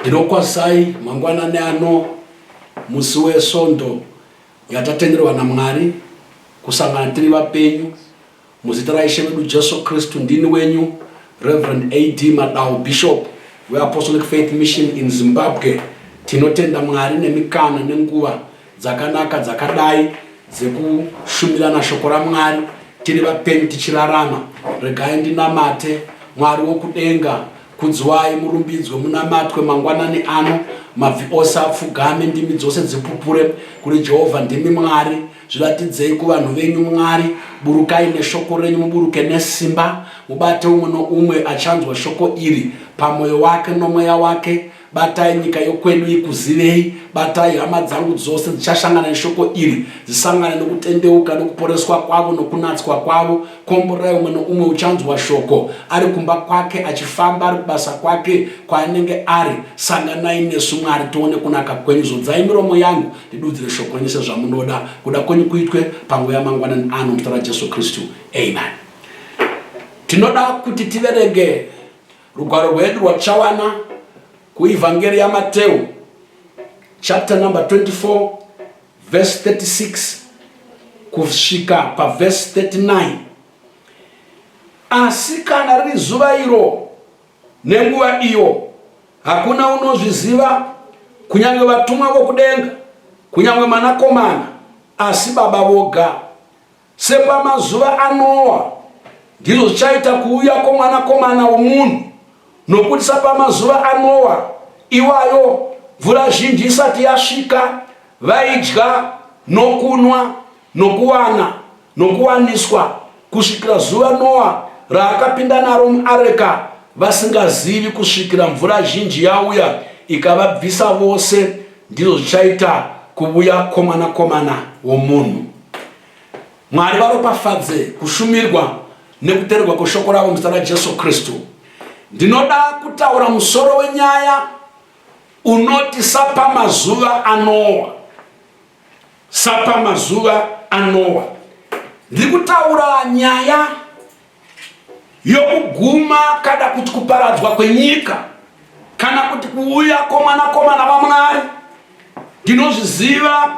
ndinokwazai mangwanani ano musi wesvondo yatatenderwa namwari kusangana tiri vapenyu Muzita raIshe wedu Jesu Kristu ndini wenyu Reverend AD Madau Bishop we Apostolic Faith Mission in Zimbabwe tinotenda Mwari nemikana nenguva dzakanaka dzakadai dzekushumirana shoko raMwari tiri vapenyu tichirarama regai ndinamate Mwari wokudenga kudzwai murumbidzwe munamatwe mangwanani ano mabvi ose apfugame ndimi dzose dzipupure kuri Jehovha ndimi Mwari zviratidzei kuvanhu venyu mwari burukai neshoko renyu muburuke nesimba mubate umwe noumwe achanzwa shoko iri pamwoyo wake nomweya wake batai nyika yokwedu ikuzivei batai hama dzangu dzose dzichashangana neshoko iri dzisangane nokutendeuka nokuporeswa kwavo nokunatswa kwavo komborai umwe noumwe uchanzwa shoko ari kumba kwake achifamba ari kubasa kwake kwaanenge ari sanganai nesu mwari tione kunaka kwenyu zodzai miromo yangu Ndidudzire shoko renyu sezvamunoda, kuda kwenyu kuitwe panguva yamangwanani ano muzita raJesu Kristu. Amen. Tinoda kuti tiverenge rugwaro rwedu rwatichawana kuivhangeri yaMateu chapter number 24 verse 36 kusvika paverse 39 asi kana riri zuva iro Nenguva iyo, hakuna unozviziva, kunyange vatumwa vokudenga, kunyange Mwanakomana, asi Baba voga. Sepamazuva aNoa, ndizvo zvichaita kuuya kwoMwanakomana womunhu, nokuti sapamazuva aNoa iwayo, mvura zhinji isati yasvika, vaidya nokunwa, Nokuwana, nokuwaniswa, kusvikira zuva Noa raakapinda naro muareka, vasingazivi, kusvikira mvura zhinji yauya ikavabvisa vose, ndizvo zvichaita kuvuya kwomwanakomana womunhu. Mwari varopafadze kushumirwa nekuteererwa kweshoko ravo muzita raJesu Kristu. Ndinoda kutaura musoro wenyaya unoti sapamazuva anowa. sapamazuva anowa ndiri kutaura nyaya yokuguma kada kuti kuparadzwa kwenyika kana kuti kuuya komwanakomana vamwari ndinozviziva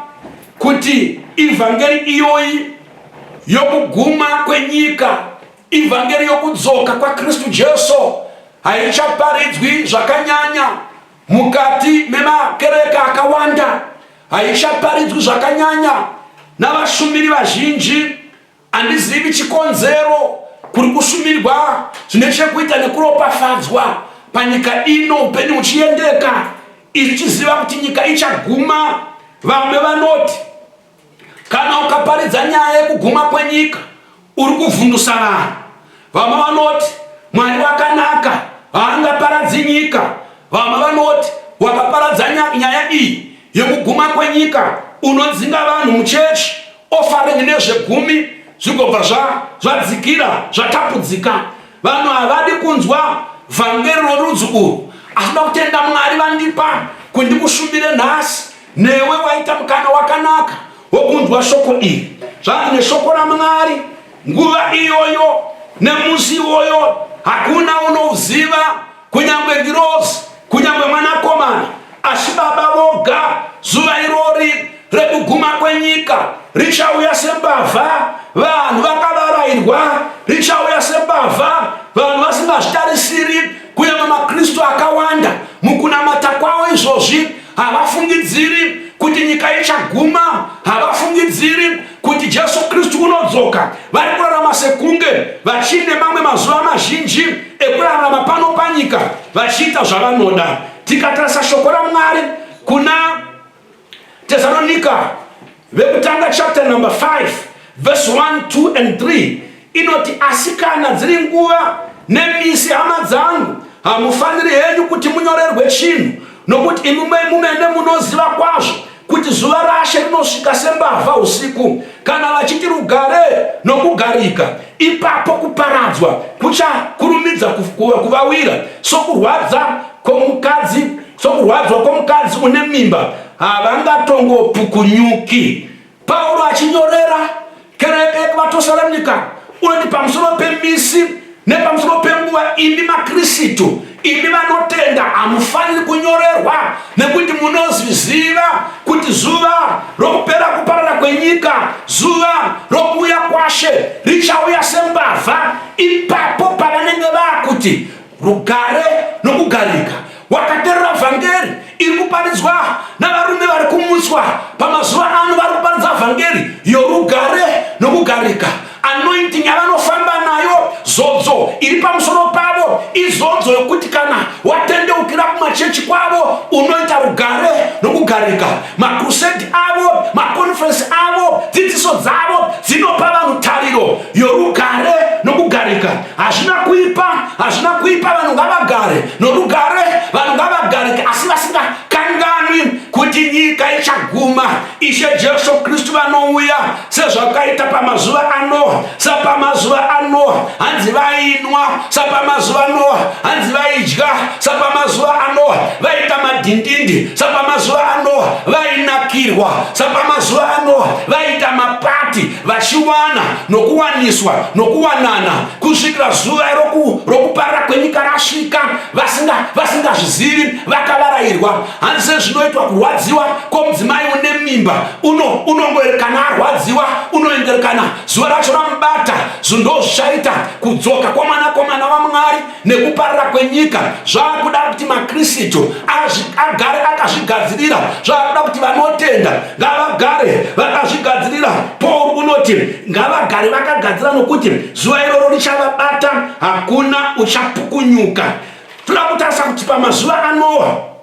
kuti ivhangeri iyoyi yokuguma kwenyika ivhangeri yokudzoka kwakristu jesu haichaparidzwi zvakanyanya Mukati memakereke akawanda haichaparidzwi zvakanyanya navashumiri vazhinji. Handizivi chikonzero. Kuri kushumirwa zvine chekuita nekuropafadzwa panyika ino, upenyu huchiendeka, isu tichiziva kuti nyika ichaguma. Vamwe vanoti Kana ukaparidza nyaya yekuguma kwenyika uri kuvhundusa vanhu. Vamwe vanoti Mwari wakanaka haangaparadzi nyika. Vamwe vanoti wakaparadza nyaya iyi yekuguma kwenyika unodzinga vanhu muchechi ofaringi nezvegumi zvigobva zvadzikira zvatapudzika. Vanhu havadi kunzwa vhangeri rorudzi urwu asi vakutenda Mwari vandipa kundikushumire nhasi Newe waita mukana wakanaka wokunzwa shoko iri. Zvanzi neshoko raMwari, nguva iyoyo nemusi iwoyo hakuna unoziva, kunyange ngirozi, kunyange mwanakomana, asi Baba voga. Zuva irori rekuguma kwenyika richauya sembavha, vanhu vakavarairwa, richauya sembavha, vanhu vasingazvitarisiri, kunyange maKristu akawanda mukunamata kwavo izvozvi havafungidziri kuti nyika ichaguma havafungidziri kuti jesu kristu unodzoka vari kurarama sekunge vachiine mamwe mazuva mazhinji ekurarama pano panyika vachiita zvavanoda tikatarisa shoko ramwari kuna tesalonika Vekutanga chapter number 5 verse 1, 2 and 3 inoti asi kana dziri nguva nemisi hama dzangu hamufaniri henyu kuti munyorerwe chinhu nokuti imi mumene munoziva kwazvo kuti zuva rashe rinosvika sembavha usiku kana vachiti rugare nokugarika ipapo kuparadzwa kuchakurumidza kuvawira sokurwadza kwomukadzi Sokurwadziwa kwomukadzi une mimba havangatongopukunyuki. Pauro achinyorera kereke yekuvaTosalonika unoti pamusoro pemisi nepamusoro penguva, imi maKristu, imi vanotenda, hamufaniri kunyorerwa nekuti munozviziva kuti zuva rokupera kuparara kwenyika, zuva rokuuya kwaShe richauya sembavha. Ipapo pavanenge vakuti rugare nokugarika wakaterera vhangeri iri kuparidzwa navarume vari kumutswa pamazuva ano vari kuparidza vhangeri yorugare nokugarika anointing yavanofamba nayo zodzo iri pamusoro pavo izodzo yokuti kana watendeukira kumachechi kwavo unoita rugare nokugarika makrusedi avo makonferensi avo dzidziso dzavo dzinopa vanhu tariro yorugare nokugarika hazvina kuipa hazvina kuipa vanhu ngavagare norugare vanhu ngavagare asi vasingakanganwi kuti nyika ichaguma ishe jesu kristu vanouya sezvakaita pamazuva anoa sapamazuva anoa hanzi vainwa sapamazuva anoa hanzi vaidya sapamazuva anoa vaita madhindindi sapamazuva anoa vainakirwa sapamazuva anoa vaita mapati vachiwana nokuwaniswa nokuwanana kusvikira zuva rokuparira kwenyika rasvika vasingazvizivi vasinga vakavarayirwa hanzi sezvinoitwa kurwadziwa kwomudzimai une mimba uno unongoerekana arwadziwa unoenderekana zuva racho ramubata zundozvichaita kudzoka kwamwana kwamwana vamwari nekuparira kwenyika zvakuda kuti makristu agare akazvigadzirira zvakuda kuti vanotenda ngavagare vakazvigadzirira paul unoti ngavagare vakagadzira nokuti zuva iroro richavabata hakuna uchapukunyuka toda kutarisa kuti pamazuva anowa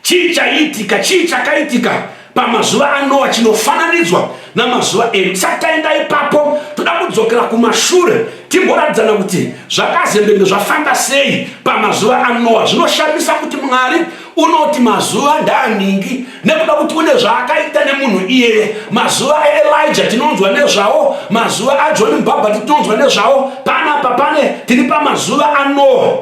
Chii chaiitika? Chii chakaitika pamazuva aNoa chinofananidzwa namazuva edu? Tisati taenda ipapo, toda kudzokera kumashure timboratidzana kuti zvakazembenge zvafamba sei pamazuva aNoa. Zvinoshamisa kuti Mwari unoti mazuva ndaaningi nekuda kuti une zvaakaita nemunhu iyeye. Mazuva aElija tinonzwa nezvawo, mazuva aJohn Mubhabhati tinonzwa nezvawo. Panapa pane tiri pamazuva aNoa.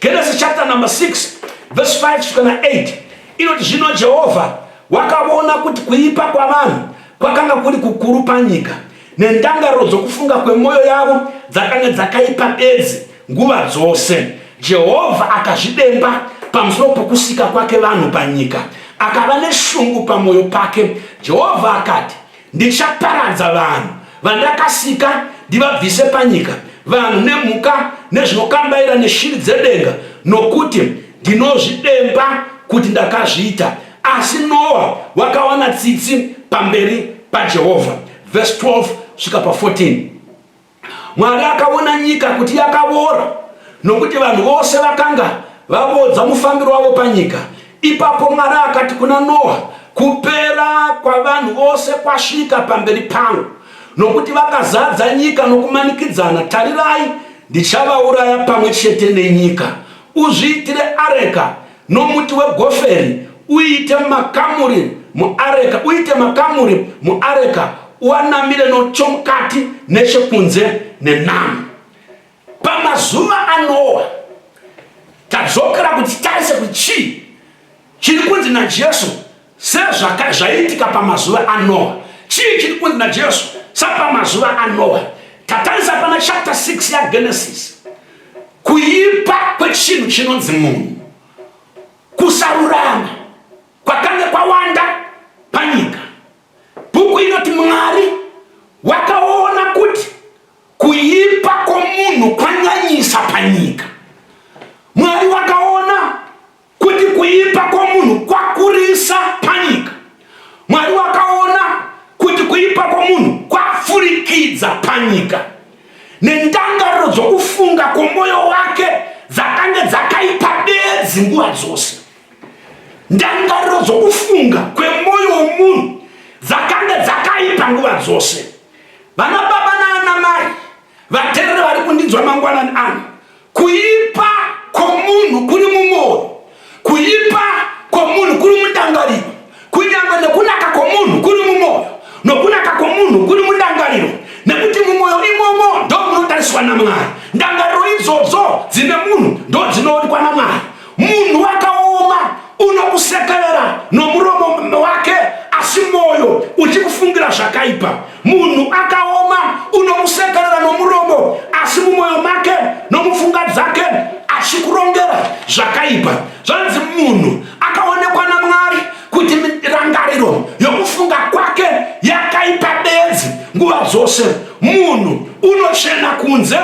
Genesis chapter number 6 verse 5 kusvika na 8 inoti zvino Jehovha wakavona kuti kuipa kwavanhu kwakanga kuri kukuru panyika nendangariro dzokufunga kwemwoyo yavo dzakanga dzakaipa bedzi nguva dzose jehovha akazvidemba pamusoro pokusika kwake vanhu panyika akava neshungu pamwoyo pake jehovha akati Ndichaparadza vanhu vandakasika ndivabvise panyika, vanhu nemhuka nezvinokambaira neshiri dzedenga, nokuti ndinozvidemba kuti ndakazviita. Asi Noa wakawana tsitsi pamberi paJehovha. Verse 12 svika pa 14. Mwari akaona nyika kuti yakavora, nokuti vanhu vose vakanga vavodza mufambiro wavo panyika. Ipapo Mwari akati kuna Noa, Kupera kwavanhu vose kwasvika pamberi pangu, nokuti vakazadza nyika nokumanikidzana. Tarirai, ndichavauraya pamwe chete nenyika. Uzviitire areka Nomuti wegoferi uite makamuri muareka, uite makamuri muareka, uanamire nochomukati nechekunze nenamo. Pamazuva aNoa, tadzokera kuti titarise kuti chii chiri kunzi naJesu sezvaiitika pamazuva anoa chii chiri kunzi najesu sapamazuva anoa tatarisa pana chapter 6 yagenesis kuipa kwechinhu chinonzi munhu kusarurama kwakange kwawanda panyika bhuku inoti mwari wakaona kuti kuipa kwomunhu kwanyanyisa panyika mwari wakaona Kuti kuipa kwomunhu kwakurisa panyika, Mwari wakaona kuti kuipa kwomunhu kwapfurikidza panyika, nendangariro dzokufunga kwomwoyo wake dzakange dzakaipa bedzi nguva dzose. Ndangariro dzokufunga kwemwoyo womunhu dzakange dzakaipa nguva dzose. Vana baba naana mai, vatereri vari kundinzwa mangwanani ano, Kuipa kwomunhu kuri mumwoyo, kuipa kwomunhu kuri mundangariro, kunyangwe nokunaka kwomunhu kuri mumwoyo, nokunaka kwomunhu kuri mundangariro, nekuti mumwoyo imomo ndomunotariswa naMwari, ndangariro idzodzo dzine munhu ndodzinoonekwa naMwari. Munhu wakaoma unokusekerera nomuromo wake asi mwoyo uchikufungira zvakaipa. Munhu akaoma unokusekerera nomuromo asi mumwoyo make nomufunga dzake achikurongera zvakaipa. Zvanzi munhu akaonekwa naMwari kuti rangariro yokufunga kwake yakaipa bedzi nguva dzose. Munhu unochena kunze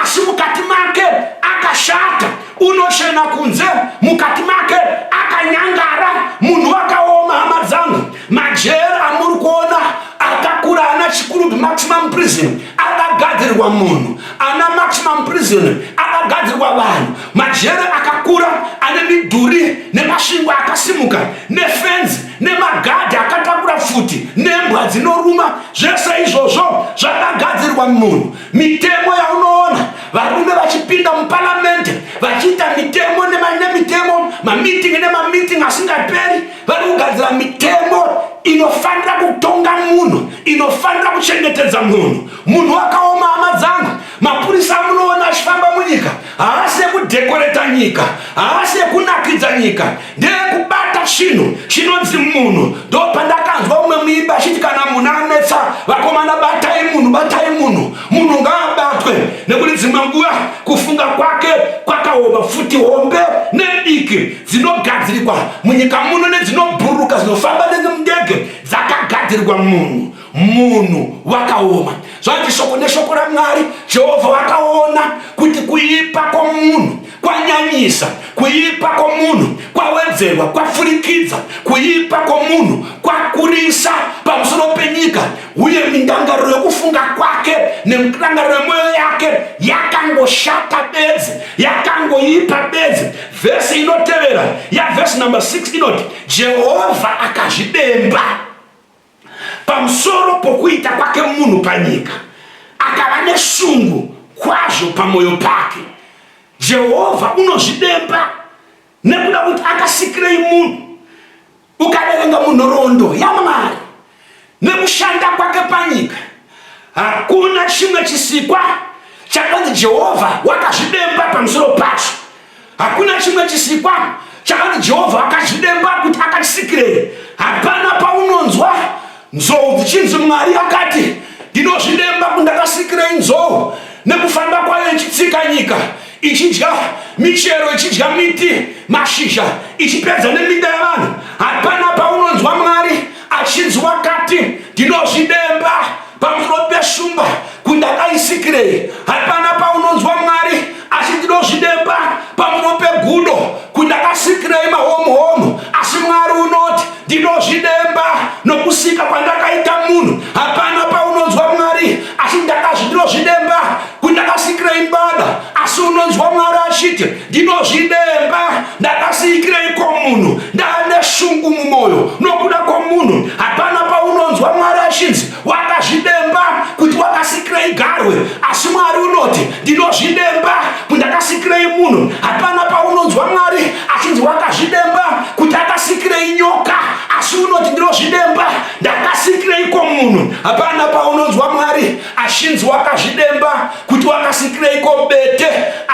asi mukati make akashata. unoshena kunze mukati make akanyangara munhu wakaoma hama dzangu majeri amuri kuona akakura ana chikurubi maximum prison akagadzirirwa munhu ana maximum prison akagadzirirwa vanhu majeri akakura ane midhuri nemashingwa akasimuka nefenzi nemagadhi akatakura futi nembwa dzinoruma zvese izvozvo zvakagadzirirwa munhu mitemo yaunoona varume vachipinda muparamende vachiita mitemo nemitemo mamitingi nemamitingi asingaperi vari kugadzira mitemo inofanira kutonga munhu inofanira kuchengetedza munhu munhu wakaoma hama dzangu mapurisa amunoona achifamba munyika haasi yekudhekoreta nyika haasi yekunakidza nyika ndeyekubata chinhu chinonzi munhu ndopandakanzwa umwe muimbi achiti kana munhu anetsa vakomana batai munhu batai munhu munhu ngaabatwe nekuti dzimwe nguva kufunga kwake kwakaoma futi hombe nediki dzinogadzirikwa munyika muno nedzinobhuruka dzinofamba nemundege dzakagadzirirwa munhu munhu wakaoma zvanzi shoko neshoko ramwari jehovha wakaona kuti kuipa kwomunhu kwanyanyisa kuipa kwomunhu kwawedzerwa kwafurikidza kuipa kwomunhu kwakurisa pamusoro penyika uye mindangariro yokufunga kwake nemudangariro yemwoyo yake yakangoshata bedzi yakangoipa bedzi vhesi inotevera yavhesi number 6 inoti jehovha akazvidemba pamusoro pokuita kwake munhu panyika akava neshungu kwazvo pamwoyo pake jehovha unozvidemba nekuda kuti akasikirei munhu ukaverenga munhoroondo yamwari nekushanda kwake panyika hakuna chimwe chisikwa chakanzi jehovha wakazvidemba pamusoro pacho hakuna chimwe chisikwa chakanzi jehovha akazvidemba kuti akachisikirei hapana paunonzwa nzou dzichinzi mwari akati ndinozvidemba kundakasikirei nzou nekufamba kwayo ichitsika nyika ichidya michero ichidya miti mashizha ichipedza neminda yavanhu hapana paunonzwa mwari achinzwa kati ndinozvidemba pamusoro peshumba kuti ndakaisikirei hapana paunonzwa mwari asi ndinozvidemba pamusoro pegudo kuti ndakasikirei mahomuhomu asi mwari unoti ndinozvidemba nokusika kwandakaita munhu hapana paunonzwa mwari asi ndakazvi ndinozvidemba kuti ndakasikirei mbada asi unonzwa mwari achiti ndinozvidemba ndakasiikireiko munhu ndaane shungu mumwoyo nokuda kwomunhu hapana paunonzwa mwari achinzi wakazvidemba kuti wakasikirei garwe asi mwari unoti ndinozvidemba kuti ndakasikirei munhu hapana paunonzwa mwari achinzi wakazvidemba kuti akasikirei nyoka asi unoti ndinozvidemba ndakasikireiko munhu hapana paunonzwa mwari Ashinzi wakazvidemba kuti wakasikireiko bete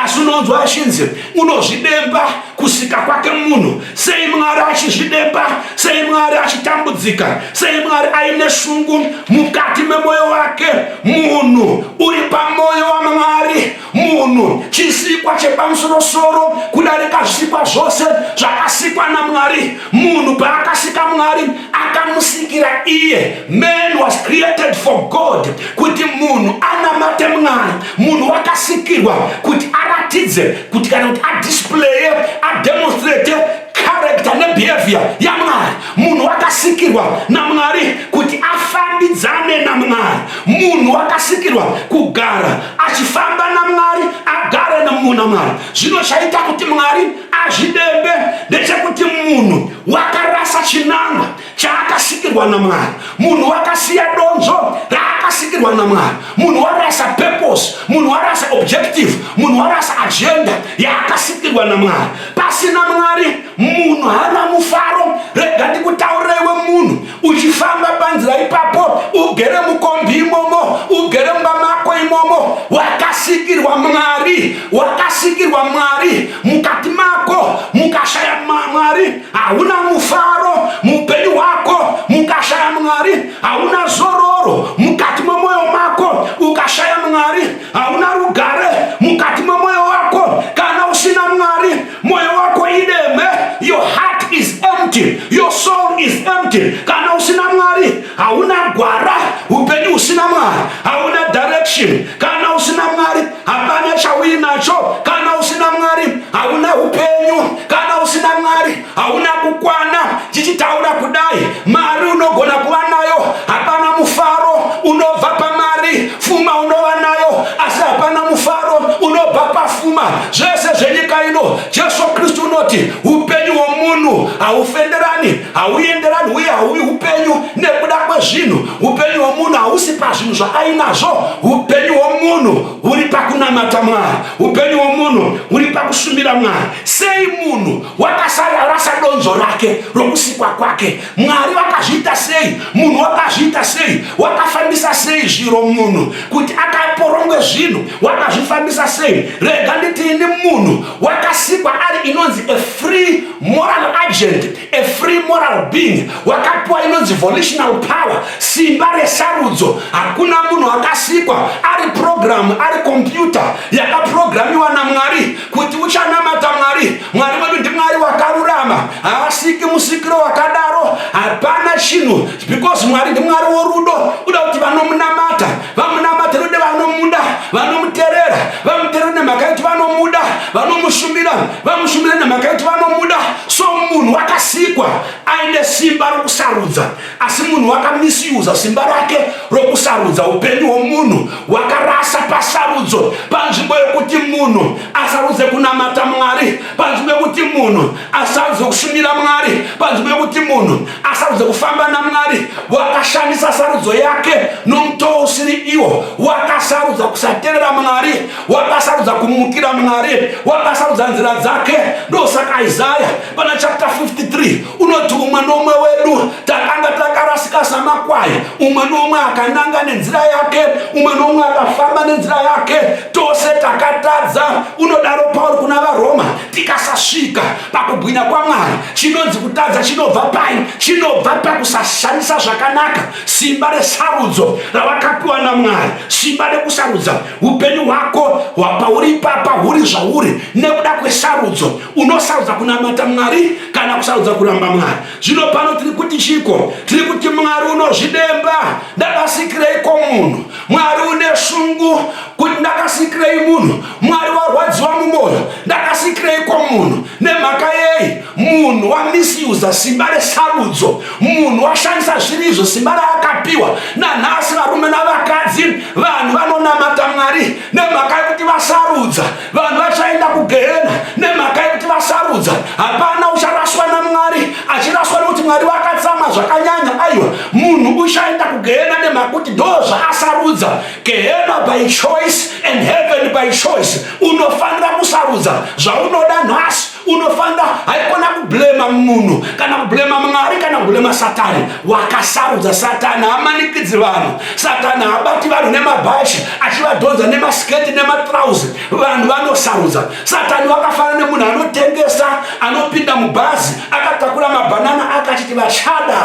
asi unonzwa ashinzi unozvidemba kusika kwake munhu sei mwari achizvidemba sei mwari achitambudzika sei mwari aine shungu mukati memwoyo wake munhu uri pamwoyo wamwari munhu chisikwa chepamusorosoro kudarika zvisikwa zvose zvakasikwa namwari munhu paakasika mwari akamusikira iye man was created for god kuti munhu anamate mwari munhu wakasikirwa kuti aratidze kuti kana kuti adisplaye ademonstrate character nebehavior yamwari munhu wakasikirwa namwari kuti afambidzane namwari munhu wakasikirwa kugara achifamba namwari agare namuna mwari zvino chaita kuti mwari azvidembe ndechekuti munhu wakarasa chinangwa chaakasikirwa namwari munhu wakasiya donzo raakasikirwa namwari munhu warasa purpose munhu warasa objective munhu warasa agenda yaakasikirwa namwari pasina mwari munhu haana mufaro rega ndikutaurireiwe munhu uchifamba panzira ipapo ugere mukombi imomo ugere mumba mako imomo wakasikirwa mwari wakasikirwa mwari mukati mako mukashaya mwari hauna mufaro muupenyu hwako mukashaya mwari hauna zororo mukati memwoyo mako ukashaya mwari hauna rugare mukati memwoyo wako kana usina mwari moyo wako ideme your heart is empty your soul is empty kana usina mwari hauna gwara upenyu husina mwari hauna direction kana usina mwari hapana chauinacho kana usina mwari hauna upenyu kana usina mwari hauna kukwana chichitaura kudai mari unogona kuva nayo hapana mufaro unobva pamari pfuma unova nayo asi hapana mufaro unobva pafuma zvese zvenyika ino jesu kristu unoti upenyu hwomunhu haufenderani hauenderani uye hauvi upenyu nekuda kwezvinhu upenyu hwomunhu hausi pazvinhu zvaainazvo upenyu hwomunhu huri pakunamata mwari upenyu hwomunhu huri pakushumira mwari sei munhu wakasararasa donzo rake rokusikwa kwake mwari vakazviita sei munhu wakazviita sei wakafambisa sei zviro munhu kuti akaporongwe zvinhu wakazvifambisa sei rega nditiini munhu wakasikwa ari inonzi a free moral agent a free moral being wakapiwa inonzi volitional power simba resarudzo hakuna munhu akasikwa ari programu ari kompyuta yakaprogramiwa namwari kuti uchanamata mwari mwari wedu ndimwari wakarurama haasiki musikiro wakadaro hapana chinhu because mwari ndimwari worudo uda kuti vanomunamata vamunamata rude vanomuda vanomuterera vamuterera nemhaka yekuti vanomuda vanomushumira vamushumira nemhaka yekuti vanomuda so munhu wakasikwa aine simba rokusarudza asi munhu wakamisiuza simba rake rokusarudza upenyu hwomunhu wakarasa pasarudzo panzvimbo yokuti munhu asarudze kunamata mwari panzvimbo yokuti munhu asarudze kushumira mwari panzvimbo yokuti munhu asarudze kufamba namwari wakashandisa sarudzo yake nomutoo usiri iwo wakasarudza kusaterera mwari wakasarudza kumukira mwari wakasarudza nzira dzake ndosaka isaya pana chapter 53 unoti umwe noumwe wedu takanga takarasika samakwai umwe noumwe akananga nenzira yake umwe noumwe akafamba nenzira yake tose takatadza unodaro pauri kuna varoma tikasasvika pakubwinya kwamwari chinonzi kutadza chinobva pai chinobva pakusashandisa zvakanaka simba resarudzo ravakapiwa namwari simba rekusarudza upenyu hwako hwapauri ipapa huri zvauri nekuda kwesarudzo unosarudza kunamata mwari kana kusarudza kuramba mwari zvino pano tiri kuti chiko tiri kuti mwari unozvidemba ndakasikireiko munhu mwari une shungu kuti ndakasikirei munhu mwari warwadziwa mumwoyo ndakasikireiko munhu nemhaka yei munhu wamisuza simba resarudzo munhu washandisa zviri izvo simba raakapiwa nanhasi varume navakadzi vanhu vanonamata mwari nemhaka yekuti vasarudza vanhu vachaenda kugehena nemhaka yekuti vasarudza hapana ucharaswa namwari achiraswa nekuti mwari vakatsama zvakanyanya aiwa munhu uchaenda kugehena nemhaka kuti ndo zvaasarudza gehena by choice and heaven by choice unofanira kusarudza zvaunoda nhasi unofanira haikona kublema munhu kana kublema mwari kana kublema satani wakasarudza satani hamanikidzi vanhu satani habati vanhu nemabhashi achivadhonza nemasketi nematrauzi vanhu vanosarudza satani wakafana nemunhu anotengesa anopinda mubhazi akatakura mabhanana akachiti vachada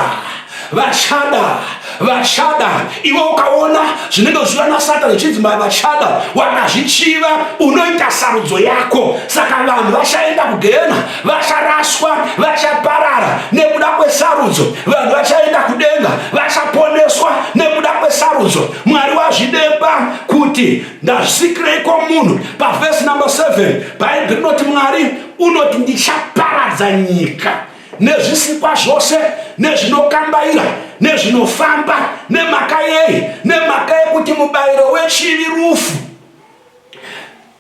vachada vachada iwe ukaona zvinenge zvichiva nasatani zvichinzi mai vachada wakazvichiva unoita sarudzo yako saka vanhu vachaenda kugehena vacharaswa vachaparara nekuda kwesarudzo vanhu vachaenda kudenga vachaponeswa nekuda kwesarudzo mwari wazvidemba kuti ndazvisikireiko munhu pavhesi number 7 bhaibheri rinoti mwari unoti ndichaparadza nyika nezvisikwa zvose nezvinokambaira nezvinofamba nemhaka yei nemhaka yekuti mubayiro wechivi rufu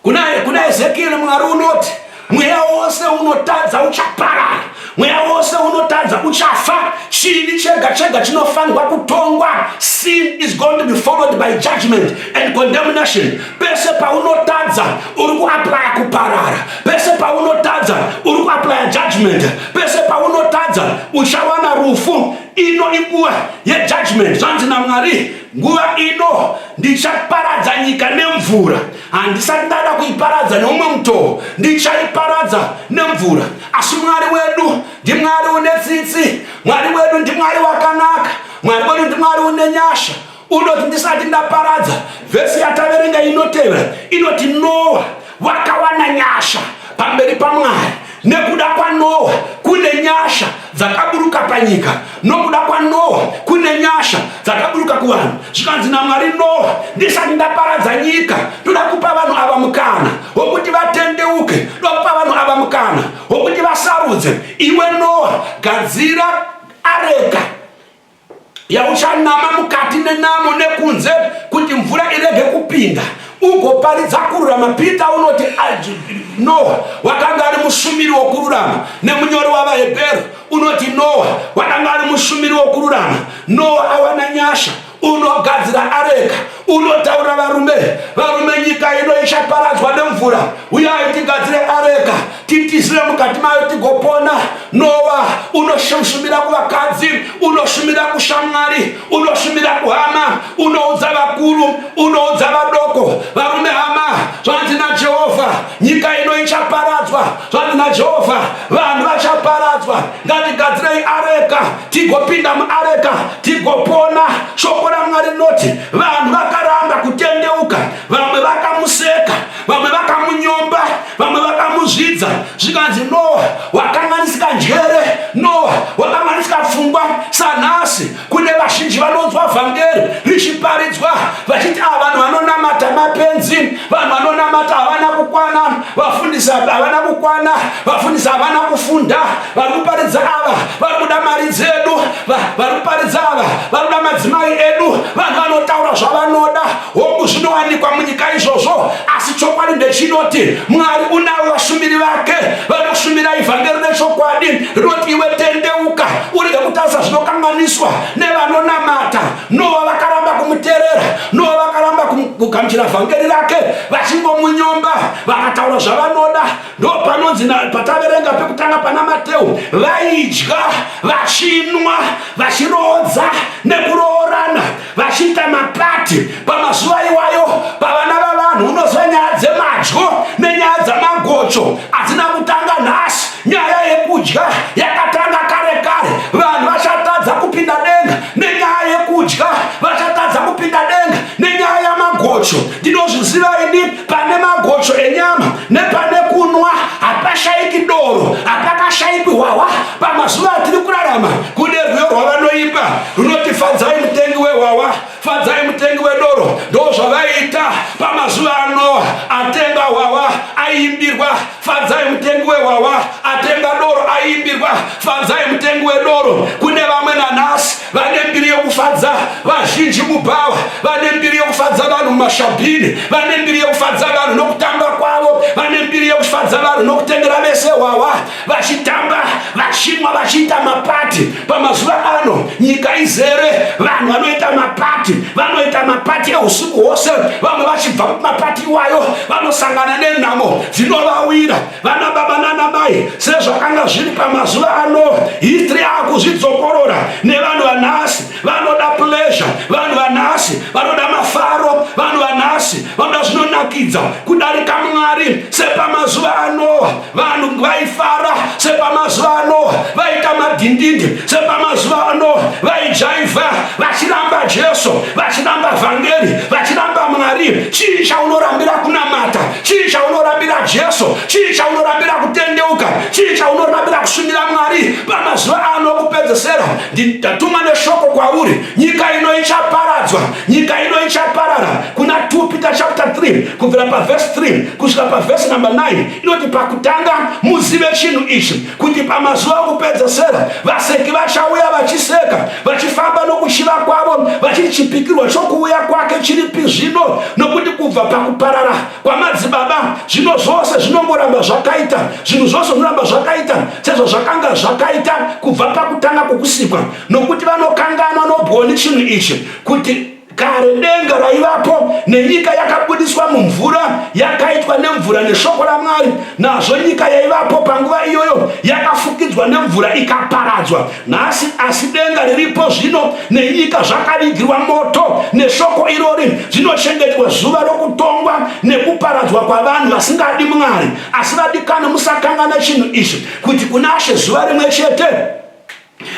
kuna, kuna ezekieri mwari unoti mweya wose unotadza uchaparara mweya wose unotadza uchafa chivi chega chega chinofanirwa kutongwa sin is going to be followed by judgment and condemnation pese paunotadza uri kuaplya kuparara pese paunotadza uri kuaplya judgment pese paunotadza uchawana rufu ino inguva yejudgment zvanzi namwari nguva ino ndichaparadza nyika nemvura handisati ndada kuiparadza neumwe mutoo ndichaiparadza nemvura asi mwari wedu ndimwari une tsitsi mwari wedu ndimwari wakanaka mwari wedu ndimwari une nyasha Unoti ndisati ndaparadza. Vhesi yataverenga inotevera inoti Noa wakawana nyasha pamberi paMwari. Nekuda kwaNoa kune nyasha dzakaburuka panyika. Nokuda kwaNoa kune nyasha dzakaburuka kuvanhu. Zvikanzi naMwari, Noa, ndisati ndaparadza nyika, ndoda kupa vanhu ava mukana wokuti vatendeuke. Ndoda kupa vanhu ava mukana wokuti vasarudze. Iwe Noa, gadzira areka yauchanama mukati nenamo nekunze kuti mvura irege kupinda ugoparidza kururama peter unoti noa wakanga ari mushumiri wokururama nemunyori wavahebheru unoti noa wakanga ari mushumiri wokururama noa awana nyasha unogadzira areka unotaura varume varume nyika ino ichaparadzwa nemvura uyai tigadzire areka titizire mukati mayo tigopona nowa unoshumira kuvakadzi unoshumira kushamwari unoshumira kuhama unoudza vakuru unoudza vadoko varume hama zvanzi najehovha nyika ino ichaparadzwa zvanzi najehovha vanhu vachaparadzwa ngatigadzirei areka tigopinda muareka tigopona shoko ramwari rinoti vanhu vakaramba kutendeuka vamwe vakamuseka vamwe vakamunyomba vamwe vakamuzvidza zvikanzi noa wakanganisika njere noa wakanganisika pfungwa sanhasi Kune vazhinji vanonzwa vhangeri richiparidzwa vachiti ava ah, vanhu vanonamata mapenzi, vanhu vanonamata havana kukwana, vafundisa havana kukwana, vafundisa havana kufunda, vari kuparidza ava vari kuda mari dzedu, vari kuparidza ava vari kuda madzimai edu, vanhu vanotaura zvavanoda. Hongu, zvinowanikwa munyika izvozvo, asi chokwadi ndechinoti Mwari unavo vashumiri vake vanoshumira ivhangeri rechokwadi rinoti iwe tendeuka urege kutarisa zvinokanganiswa nevanonamata nowa vakaramba kumuterera nowa vakaramba kugamuchira vhangeri rake vachingomunyomba vakataura zvavanoda ndo panonzi pataverenga pekutanga pana mateu vaidya vachinwa vachiroodza nekuroorana vachiita mapati pamazuva iwayo pavana vavanhu unozva nyaya dzemadyo nenyaya dzamagocho hadzina kutanga nhasi nyaya yekudya yakatanga kare kare vanhu vachatadza kupinda denga nenyaya yekudya vachatadza kupinda denga nenyaya yamagocho ndinozviziva ini pane magocho enyama nepane kunwa hapashaiki doro hapakashaiki hwahwa pamazuva atiri kurarama kune rwiyo rwavanoimba runoti fadzai mutengi wehwahwa fadzai mutengi wedoro ndo zvavaiita pamazuva anoa atenga hwahwa aiimbirwa fadzai mutengi wehwahwa atenga doro aiimbirwa fadzai mutengi wedoro kune vamwe nanhasi vane mbiri yokufadza vazhinji mubhawa vane mbiri yokufadza vanhu mumashabhini vane mbiri yokufadza vanhu nokutamba kwavo vane mbiri yokufadza vanhu nokutengera vese hwawa vachitamba vachimwa vachiita mapati pamazuva ano nyika izere vanhu vanoita mapati vanoita mapati eusiku hwose vamwe vachibva mapati iwayo vanosangana nenhamo dzinovawira vana baba nana mai sezvakanga zviri pamazuva anoa histri akuzvidzokorora nevanhu vanhasi vanoda plesure vanhu vanhasi vanoda mafaro vanhu vanhasi vanoda zvinonakidza kudarika mwari sepamazuva anoa vanhu vaifara sepamazuva anoa vaita madhindindi sepamazuva anoa vaijaivha vachiramba jesu vachiramba vhangeri vachiramba mwari chii chaunorambira kunamata chii chaunorambira jesu chii chaunorambira kutendeuka chii chaunorambira kusumira mwari pamazuva ano okupedzesera ndatuma neshoko kwauri nyika ino ichaparadzwa nyika ino ichaparara kuna 2 peter chapter 3 kubvira pavhesi 3 kusvika pavhesi number 9 inoti pakutanga muzive chinhu ichi kuti pamazuva okupedzesera vaseki vachauya vachiseka vachifamba nokuchiva kwavo vachichipikirwa chokuuya kwake chiripi zvino nokuti kubva pakuparara kwamadzibaba zvino zvose zvinongoramba zvakaita zvinhu zvose zvinoramba zvakaita sezvazvakanga zvakaita kubva pakutanga kwokusikwa nokuti vanokanganwa nobwoni chinhu ichi kuti Kare denga raivapo nenyika yakabudiswa mumvura yakaitwa nemvura neshoko raMwari. Nazvo nyika yaivapo panguva iyoyo yakafukidzwa nemvura ikaparadzwa. Nhasi asi denga riripo zvino nenyika zvakavigirwa moto neshoko irori zvinochengetwa zuva rokutongwa nekuparadzwa kwavanhu vasingadi Mwari. Asi vadikani, musakanganwa chinhu ichi kuti kunashe zuva rimwe chete.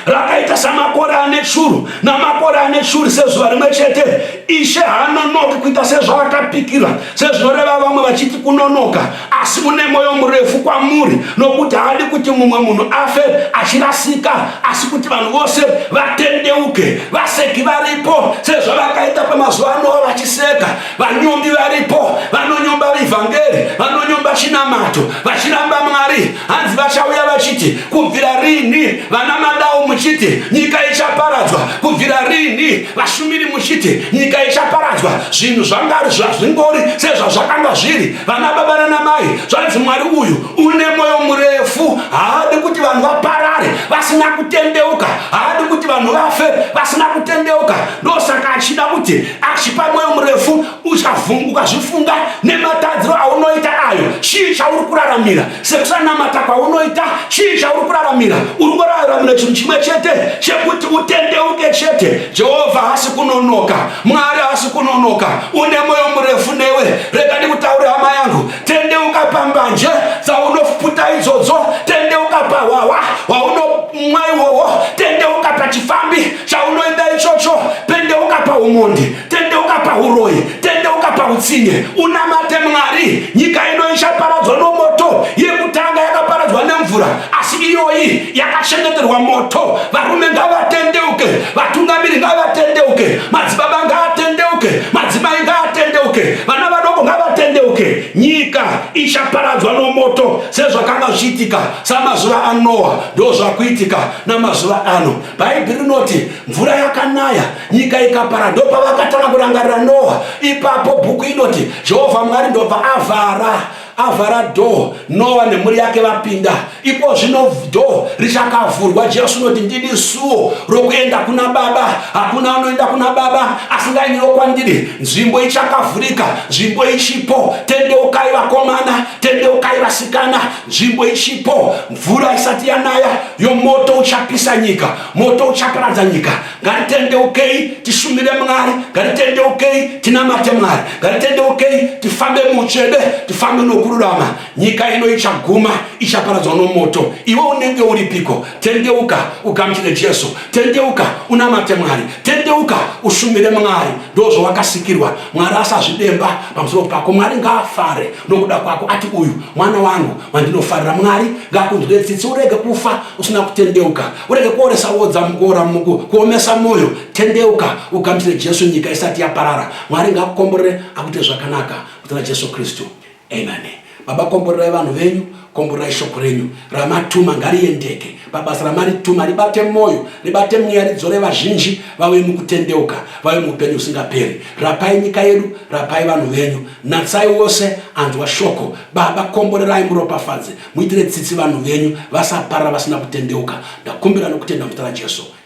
rakaita samakore ane shuru namakore ane shuri sezuva rimwe chete ishe haanonoki kuita sezvaakapikira sezvinoreva vamwe vachiti kunonoka asi mune mwoyo murefu kwamuri nokuti haadi kuti mumwe munhu afe achirasika asi kuti vanhu vose vatendeuke vaseki varipo sezvavakaita pamazuva anova vachiseka Vanyombi varipo vanonyomba vivhangeri, vanonyomba chinamato, vachiramba Mwari. Hanzi vachauya vachiti, kubvira rini vana madau muchiti nyika ichaparadzwa, kubvira rini vashumiri muchiti nyika ichaparadzwa. Zvinhu zvangari zvazvingori sezvazvakanga zviri. Vana baba nana mai, zvanzi Mwari uyu une moyo murefu, haadi kuti vanhu vaparare vasina kutendeuka, haadi kuti vanhu vafe vasina kutendeuka. ndosaka achida kuti achipa mwoyo murefu uchavhunguka zvifunga nematadziro aunoita ayo chii chauri kuraramira sekusanamata kwaunoita chii chauri kuraramira uri kuraramira chinhu chimwe chete chekuti utendeuke chete jehovha haasi kunonoka mwari haasi kunonoka une mwoyo murefu newe rega ndikutaure hama yangu tendeuka pambanje dzaunofuputa idzodzo tendeuka pahwahwa hwaunomwa iwowo tendeuka pachifambi chaunoenda ichocho tendeuka paumhondi tendeuka pauroi tendeuka pautsinye unamate mwari nyika ino ichaparadzwa nomoto yekutanga yakaparadzwa nemvura asi iyoyi yakachengeterwa moto varume ngavatendeuke vatungamiri ngavatendeuke madzibaba ngaatendeuke madzimai ngaatendeuke vana vadoko ngavatendeuke nyika ichaparadzwa nomoto sezvakanga zvichiitika samazuva anoa ndozvakuitika namazuva ano bhaibheri rinoti mvura yakanaya nyika ikapara ndopavakatanga kurangarira noa ipapo bhuku inoti jehovha mwari ndobva avhara avhara dhoo noa nemhuri yake vapinda ipo zvino dhoo richakavhurwa jesu unoti ndini suo rokuenda kuna baba hakuna anoenda kuna baba asingainiwo kwandiri nzvimbo ichakavhurika nzvimbo ichipo tendeukai vakomana tendeukai vasikana nzvimbo ichipo mvura isati yanaya yomoto uchapisa nyika moto uchaparadza nyika ngatitendeukei tishumire mwari ngatitendeukei tinamate mwari ngatitendeukei tifambe muchede tifambe nokururama nyika ino ichaguma ichaparadzwa nomoto iwe unenge uripiko tendeuka ugamuchire jesu tendeuka unamate mwari tendeuka ushumire mwari ndozvowakasikirwa mwari asazvidemba pamusoro pako mwari ngaafare nokuda kwako ati uyu mwana wangu wandinofarira mwari ngakunzwire tsitsi urege kufa usina kutendeuka urege kuoresa wodza mukuora muku kuomesa mwoyo tendeuka ugamuchire jesu nyika isati yaparara mwari ngakukomborere akuite zvakanaka kutana jesu kristu amen baba komborerai vanhu venyu komborerai shoko renyu ramatuma ngariendeke pabasa ramari tuma ribate moyo ribate mweya ridzore vazhinji vave mukutendeuka vave muupenyu usingaperi rapai nyika yedu rapai vanhu venyu natsai wose anzwa shoko baba komborerai muropafadze muitire tsitsi vanhu venyu vasaparara vasina kutendeuka ndakumbira nokutenda muzita rajesu